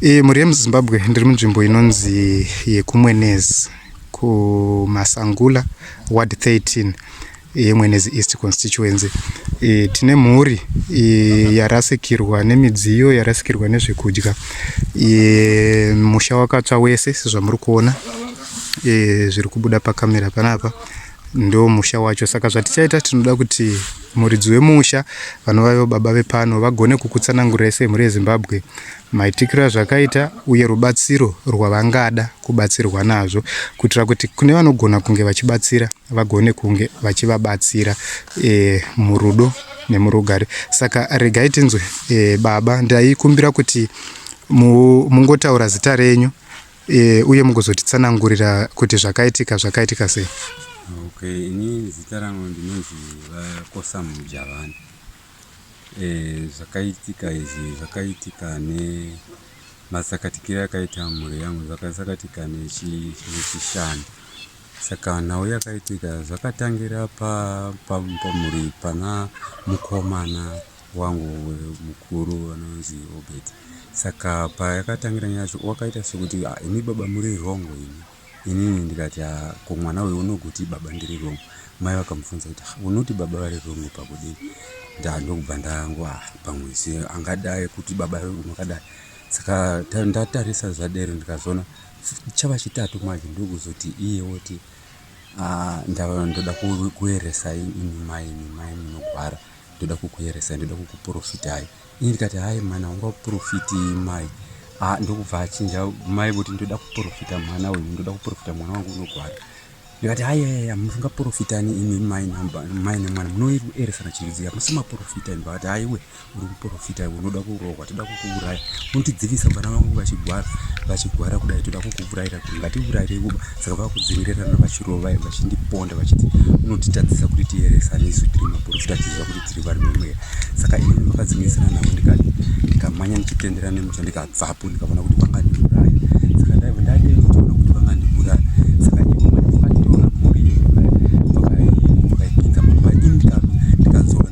E, mhuri yemuzimbabwe ndiri munzvimbo inonzi yekumwenezi kumasangula ward 13 yemwenezi east constituency e, tine mhuri e, yarasikirwa nemidziyo yarasikirwa nezvekudya e, musha wakatsva wese sezvamuri kuona e, zviri kubuda pakamera panapa ndo musha wacho saka zvatichaita tinoda kuti muridzi wemusha vanovaivo baba vepano vagone kukutsanangurirai semhuri yezimbabwe maitikiro azvakaita uye rubatsiro rwavangada kubatsirwa nazvo kuitira kuti kune vanogona kunge vachibatsira vagone kunge vachivabatsira e, murudo nemurugare saka regai tinzwe e, baba ndaikumbira kuti mungotaura zita renyu e, uye mugozotitsanangurira kuti zvakaitika zvakaitika sei okay ini zita rangu ndinonzi vakosa mujavani e, eh, zvakaitika izvi zvakaitika ne masakatikire akaita mhuri yangu zvakasakatika nechishanu saka nhau yakaitika zvakatangira pamhuri pana mukomana wangu mukuru anonzi Obert saka payakatangira nyaya yacho wakaita sekuti ah, imi baba muri wrong ini inini ndikati ah, ko mwana uyu unoguti baba ndiri wrong mai vakamubvunza kuti ah, unoti baba vari wrong pakudii ndandokubva ndangwa ah, pamwe se angadai kuti baba unokadai saka ndatarisa zvadero ndikazoona chava chitatu manje ndokuzoti iye woti ndoda kueresa imi mai imi mai munogwara ndoda kukuyeresai ndoda kukuprofitai ini ndikati hai mwana ungaprofiti mai ah, ndokubva achinja mai voti ndoda kuprofita mwana uyu ndoda kuprofita mwana wangu unogwara ndikati hayaya musingaprofitani imi mai nemwana munoeresana chiridziya musemaprofita ini vakati haiwe uri kuprofita iwe unoda kurohwa toda kukuuraya unotidzivisa vana vangu vachigwara vachigwara kudai toda kukuuraira kuti ngatiuraire kuba saka vakudzingirirana vachirova vachindiponda vachiti unotitadzisa kuti tiyeresane isu tiri maporofita tiziva kuti tiri vari mumweya saka ini ndakadzingirisana navo ndikati ndikamanya ndichitendera nemucha ndikabvapo ndikaona kuti vangandiuraya saka ndaiva ndadei ndichiona kuti vangandiuraya saka ivo vakationa mhuri yekuda vakaipinza mumba ini ndikadzoka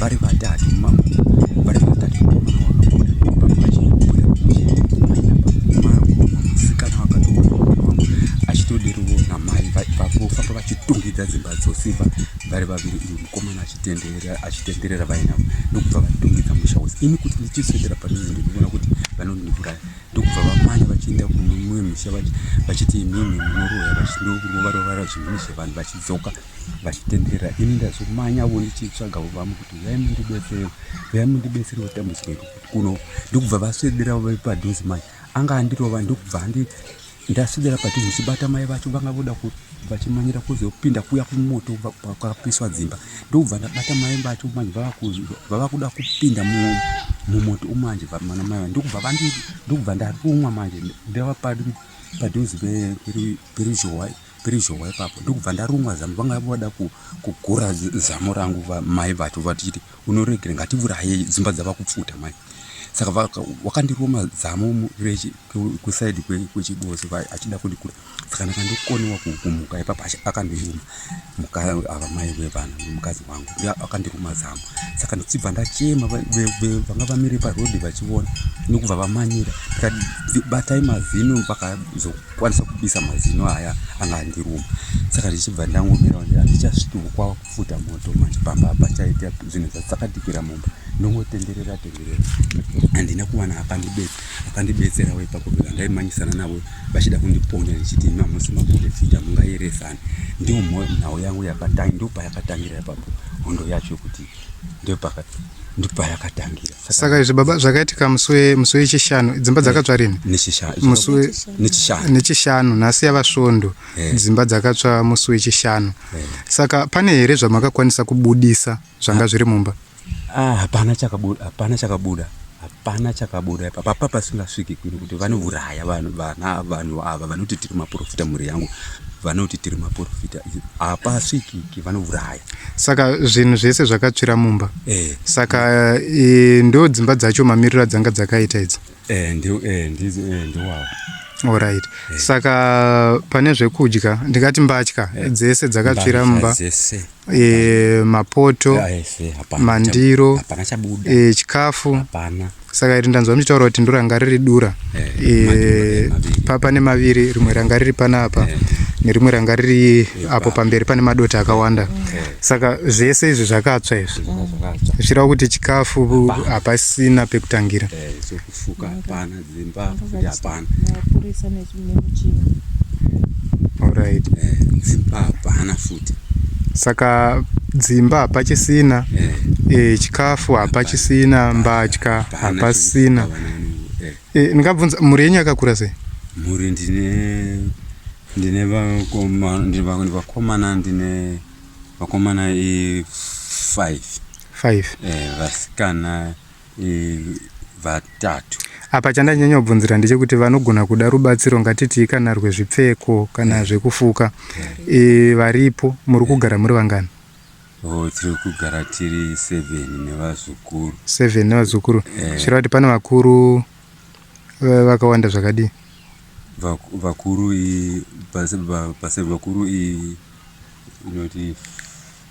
vari vatatu mama vari vatatu mukomana wakabuda baba achibuda musikana wakatoaa achitodiriwo namai vafamba vachitungidza dzimba dzosimba vari vaviri uyu mukomana achitenderera achitenderera vainavo ndokubva vatungidza musha wose ini kuti ndichiswedera padhuze ndinoona kuti vanondiuraya ndokubva vamanya vachienda kumumwe musha vachiti imimi munoroya vachindokurovarovara zvinhu zvevanhu vachidzoka vachitenderera ini ndazomanya vo ndichitsvaga vamu kuti uyai mundibetsere uyai mundibetsere kutambudzika iri kuti kuno ndikubva vaswedera vave padhuze manje anga andirova ndikubva andi ndaswedera padhuze ndichibata mai vacho vanga voda vachimanyira kuzopinda kuya kumoto kwakapiswa dzimba ndokubva ndabata mai vacho manje vava kuda kupinda mumoto umanje vamana mai va ndokubva vandi ndokubva ndarumwa manje ndava padhuze peruzhowa Ruzhowa ipapo ndokubva ndarumwa zamu vanga vada kugura zamu rangu mai vacho vachiti unoregera ngativuraye dzimba dzava kupfuta mai saka vakandiruma zamu kusaidi kwechiboso achida kundikura saka ndakandokoniwa kumuka ipapo akandiruma ava mai vevana mukadzi wangu akandiruma zamu saka ndichibva ndachema vanga vamire parodi vachiona nokubva vamanyira ndikati batai mazino vakazo kwanisa kupisa mazino aya anga andiruma saka ndichibva ndangomira ndi handichasviki kwava kufuta moto manje pamba apa chaita zvinhu zvasakadikira mumba ndongotenderera tenderera handina kuwana akandibetsera akandibetsera we ipapo beka ndaimanyisana navo vachida kundiponya ndichiti mamusi maprofita mungairesani ndiwo nhau yangu yakatangi ndo payakatangira ipapo hondo yacho kuti ndopayakatangira saka izvi baba zvakaitika musi we- musi wechishanu dzimba dzakatsva rini nechishanu musi we- nechishanu nechishanu nhasi yava svondo Eh. dzimba dzakatsva musi wechishanu saka pane here zvamakakwanisa kubudisa zvanga zviri mumba Ah, hapana chakabuda hapana chakabuda hapana chakabuda ipa papa pasingasviki kuno kuti vanouraya vanhu vana vanhu ava vanoti tiri maprofita mhuri yangu vanoti tiri maprofita hapasvikiki vanouraya saka zvinhu zvese zvakatsvira mumba eh. saka e, ndo dzimba dzacho mamiriro adzanga dzakaita idzo eh, ndi, eh, ndi, eh, ndi Alright. Eh. Saka pane zvekudya ndikati mbatya eh. dzese dzakatsvira mumba eh, mapoto eh, mandiro eh, chikafu saka iri ndanzwa muchitaura kuti ndoranga riri dura eh, eh, pane maviri rimwe ranga riri panapa eh. nerimwe ranga riri apo pamberi pane madota akawanda saka zvese izvi zvakatsva izvi zvichireva kuti chikafu hapasina pekutangira Alright. Eh, dzimba hapana futi. Saka dzimba hapachisina eh. eh, chikafu hapachisina mbatya hapasina eh. eh, ndingabvunza mhuri yenyu yakakura sei mhuri ndine ndine vakomana ndine vakomana i5 5 eh, vasikana vatatu apa chandanyanya kubvunzira ndechekuti vanogona kuda rubatsiro ngatitii kana rwezvipfeko kana yeah. zvekufuka yeah. e, varipo muri kugara yeah. muri vangani oh, tiri kugara tiri seven nevazukuru seven nevazukuru yeah. zvira kuti pane vakuru eh, vakawanda zvakadii vakuru i base vakuru i inoti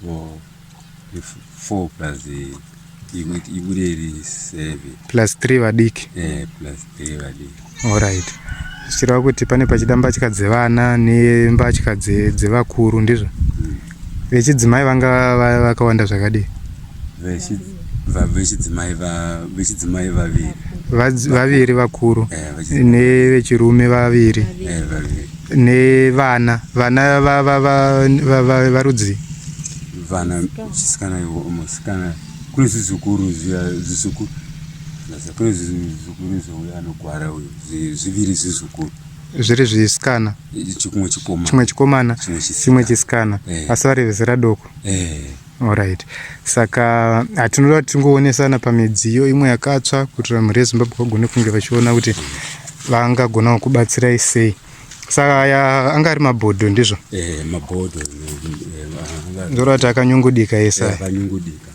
4 plus ibude iri 7 plus 3 vadiki eh plus 3 vadiki all right zvichireva kuti pane pachida mbatya dzevana nembatya dzevakuru ndizvo hmm. vechidzimai vanga vakawanda zvakadii vechidzimai vechidzimai vaviri vaviri vakuru eh, nevechirume vaviri eh, vaviri nevana vana varudzi vana chisikana musikana kune zizukuru zizukuru kune zizukuru zvouya anogwara uyu zviviri zizukuru zviri zvisikana chimwe chikomana chimwe chisikana eh. asi vari vezera doko eh. Alright. Saka hatinoda kuti tingoonesana pamidziyo imwe yakatsva kuti vanhu reZimbabwe vagone kunge vachiona kuti vangagonawo kubatsirai sei. Saka aya anga ari mabhodho ndizvo? Eh, mabhodho. Eh, ah, Ndora kuti akanyungudika ese. Eh, akanyungudika.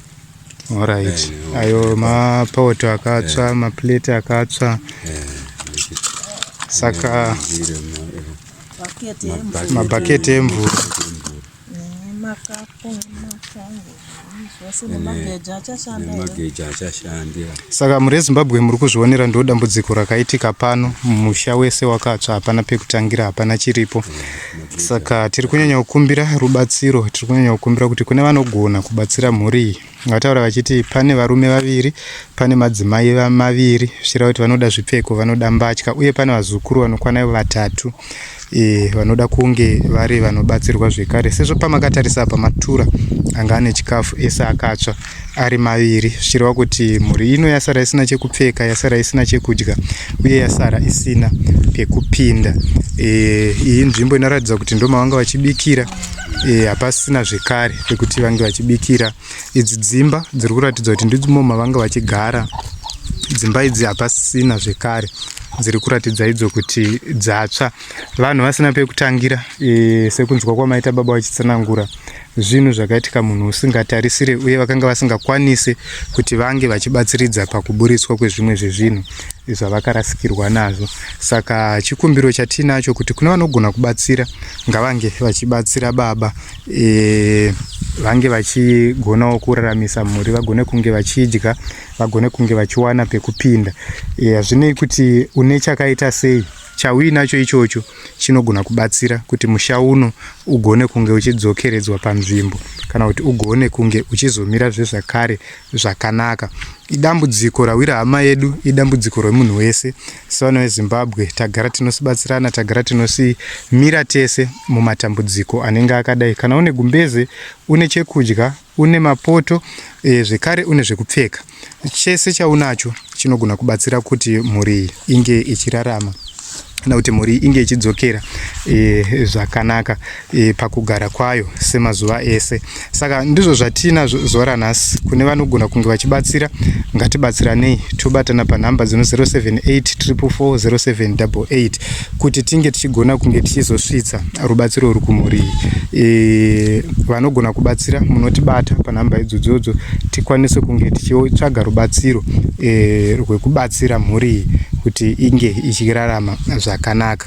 Alright. Eh, Ayo mapoto akatsva, maplate akatsva. Saka mabhaketi emvura. saka muri ezimbabwe muri kuzvionera ndo dambudziko rakaitika pano musha wese wakatsva hapana pekutangira hapana chiripo saka tiri kunyanya kukumbira rubatsiro tiri kunyanya kukumbira kuti kune vanogona kubatsira mhuri iyi vataura vachiti pane varume vaviri pane madzimai maviri zvichireva kuti vanoda zvipfeko vanoda mbatya uye pane vazukuru vanokwana ivo vatatu e, vanoda kunge vari vanobatsirwa zvekare sezvo pamakatarisa apa matura anga ane chikafu ese akatsva ari maviri zvichireva kuti mhuri ino yasara isina chekupfeka yasara isina chekudya uye yasara isina pekupinda e, iyi nzvimbo inoratidza kuti ndomavanga vachibikira Eh, hapasina e, zvekare pekuti vange vachibikira idzi dzimba dziri kuratidza kuti ndidzimo mavanga vachigara dzimba idzi hapasina zvekare dziri kuratidza idzo kuti dzatsva vanhu vasina pekutangira e, sekunzwa kwamaita baba vachitsanangura zvinhu zvakaitika munhu usingatarisire uye vakanga vasingakwanise kuti vange vachibatsiridza pakuburitswa kwezvimwe zvezvinhu zvavakarasikirwa nazvo saka chikumbiro chatiinacho kuti kune vanogona kubatsira ngavange vachibatsira baba e, vange vachigonawo kuraramisa mhuri vagone kunge vachidya vagone kunge vachiwana pekupinda e, hazvinei e, kuti une chakaita sei chauinacho ichocho chinogona kubatsira kuti musha uno ugone kunge uchidzokeredzwa panzvimbo kana kuti ugone kunge uchizomira zvezvakare zvakanaka. Idambudziko rawira hama yedu, idambudziko remunhu wese. Sevana veZimbabwe tagara tinosibatsirana, tagara tinosimira tese mumatambudziko anenge akadai. Kana une gumbeze, une chekudya, une mapoto, e, zvekare une zvekupfeka, chese chaunacho chinogona kubatsira kuti mhuri inge ichirarama kana kuti mhuri inge ichidzokera e, zvakanaka e, pakugara kwayo semazuva ese saka ndizvo zvatina zuva ranhasi kune vanogona kunge vachibatsira ngatibatsiranei tobatana panhamba dzino 078 344 0788 kuti tinge tichigona kunge tichizosvitsa rubatsiro uri kumhuri iyi e, vanogona kubatsira munotibata panhamba idzodzodzo tikwanise kunge tichitsvaga rubatsiro e, rwekubatsira mhuri iyi kuti inge ichirarama zvakanaka